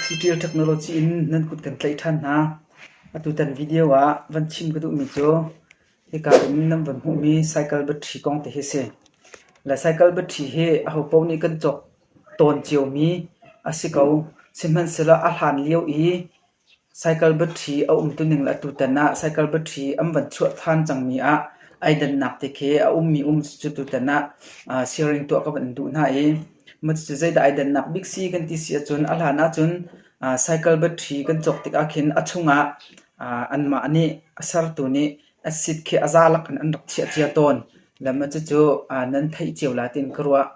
Sitial technology in nan kut kan tlaih ṭhan hna. Atutan video ah van chim ka duhmi cu hika in nan van hmuhmi cycle battery kong te hi a si. Le cycle battery hi ahopaoh nih kan cawk tawn ciomi a si ko. Sihmanhsehlaw a hlan lio i Cycle battery a um tuning le atutan ah cycle battery an van chuah than cangmi ah ai dannak te khi a ummi um cucu tutan ah siaring tuah ka van in duh hna i cucu zeidah ai dannak bik si kan ti si ahcun a hlan ahcun cycle battery kan cawk tik ahkhin a chung ah anmah nih a sertu nih Acid khi a za lak in an rak chiah cia tawn. Lam a cucu nan theih cio la tiin ka ruah.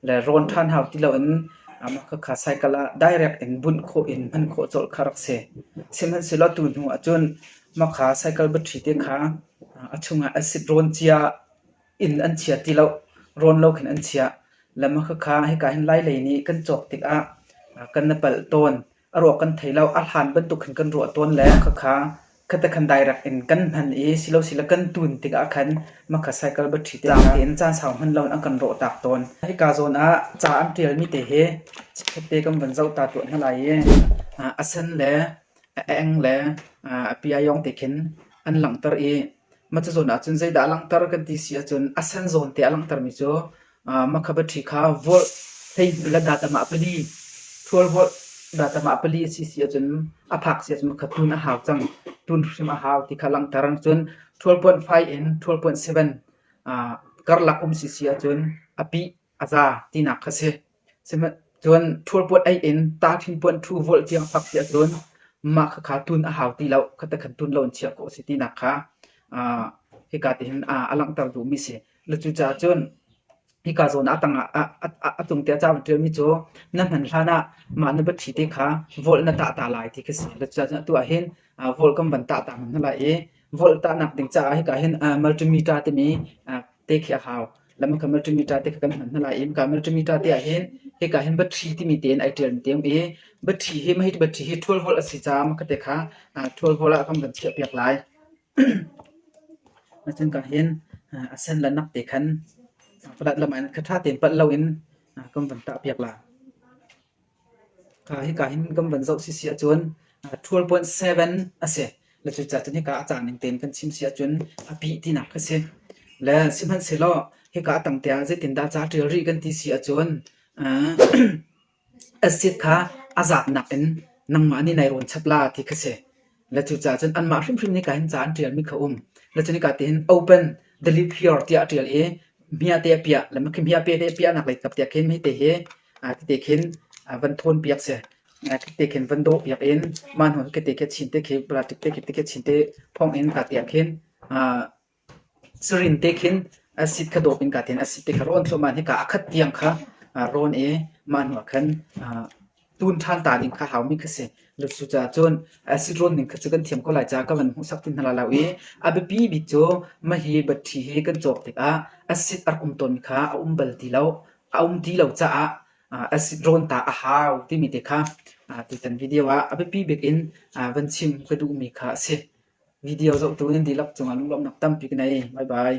Le rawn ṭhan hau ti loin mah khakha cycle ah direct in bunh khawh in hman khawh colh kha rak si. Sihmanhsehlaw tu hnu ahcun mah kha cycle battery te kha a chungah acid rawn cia in an chia ti lo. Rawn lo khin an chiah. Lam a khakha hika hin lailei nih kan cawk tikah kan na palh tawn. A ruak kan thei lo. A hlan bantuk khin kan ruah tawn le khakha khatekhan direct in kan hman i silosile kan tun tikah khan makha cycle battery te zaangte in caan sau hman loin an kan rawh tak tawn. Hika zawn ah ca an ṭialmi te hi chikkhatte kan van zoh ta tuah hna lai i a sen le a eng le a piayawng te khin an langhter i mah cazawn ahcun zeidah a langhter kan ti si ahcun a sen zawn te a langhtermi cu Makhabatthi kha volh hleihnih le datam ah pali, ṭhual holh datam ah pali a si si ahcun a phak si ahcun kha tun a hau cang. Tun hrim a hau ti kha langhter. Cun ṭhual puanh five in ṭhual puanh seven karlak um si si ahcun a pih a za tinak kha si. Cun ṭhual puanh eight in tahṭhin puanh ṭhu volh tiang fak si ahcun mah khakha tun a hau ti lo, khatekhan tun lo in chiah khawh a si tinak kha hika tihin a langhter duhmi si. Le cucaah cun hika zawn ah tangah a tung tiah ca van ṭialmi cu na hman hlanah mah na biathi te kha volh na tah ta lai ti khi si. Le cucaah atu ah hin volh kan van tah ta hmanh hna lai i volh tahnak ding caah hika hin multimeter timi te khi a hau. Le maka multimeter te kha kan hman hna lai i maka multimeter te ah hin hika hin biathi timi tein ai ṭialmi te um i biathi hi mahit biathi hi ṭhual holh a si caah maka te kha ṭhual holh ah kan van chiahpiak lai. Cungka hin a sen le nak te khan palat lam in kha ṭha tein palh loin kan van ṭahpiak la. Hika hin kan van zoh sisi ahcun ṭhualpuan seven a si. Le cucaah cun hika a cang ning tein kan chim si ahcun a pih tinak kha si. Le sihmanhsehlaw hika a tang tiang zeitindah ca ṭial rih kan ti si ahcun Acid kha a zatnak in nangmah nih nai rawn chap la ti kha si. Le cucaah cun anmah hrimhrim nih kaa hin ca an ṭialmi kha a um. Le cun hika tihin open, delete here tiah a ṭial i hmiahte a piah. Le khi hmiahte a piahnak lei kap tiah khin hite hi hite khin van ṭhawnpiak si. Hite khin van dawhpiak in mah hnu hite khi a chin te khi plastic te khi chin te phawng in hika tiang khin Sarin te khin acid kha dawp in kaa tiin acid te kha rawn thluahmah in hika a khat tiang kha rawn i mah hnuah khan tun ṭhan ta ding kha haumi kha si. Cucaah cun acid rawn ning kha cu kan thiam ko lai caah ka van hmuhsak ti hna lai lo i a biapi bik cu mah hi batṭi hi kan cawk tikah acid a rak um tawnmi kha a um bal ti lo. A um ti lo caah acid rawn ta a hau timi te kha tutan video ah a biapi bik in van chim ka duhmi kha a si. Video zohtu nan dihlak cungah lunglawmhnak tampi ka nei. Bye bye.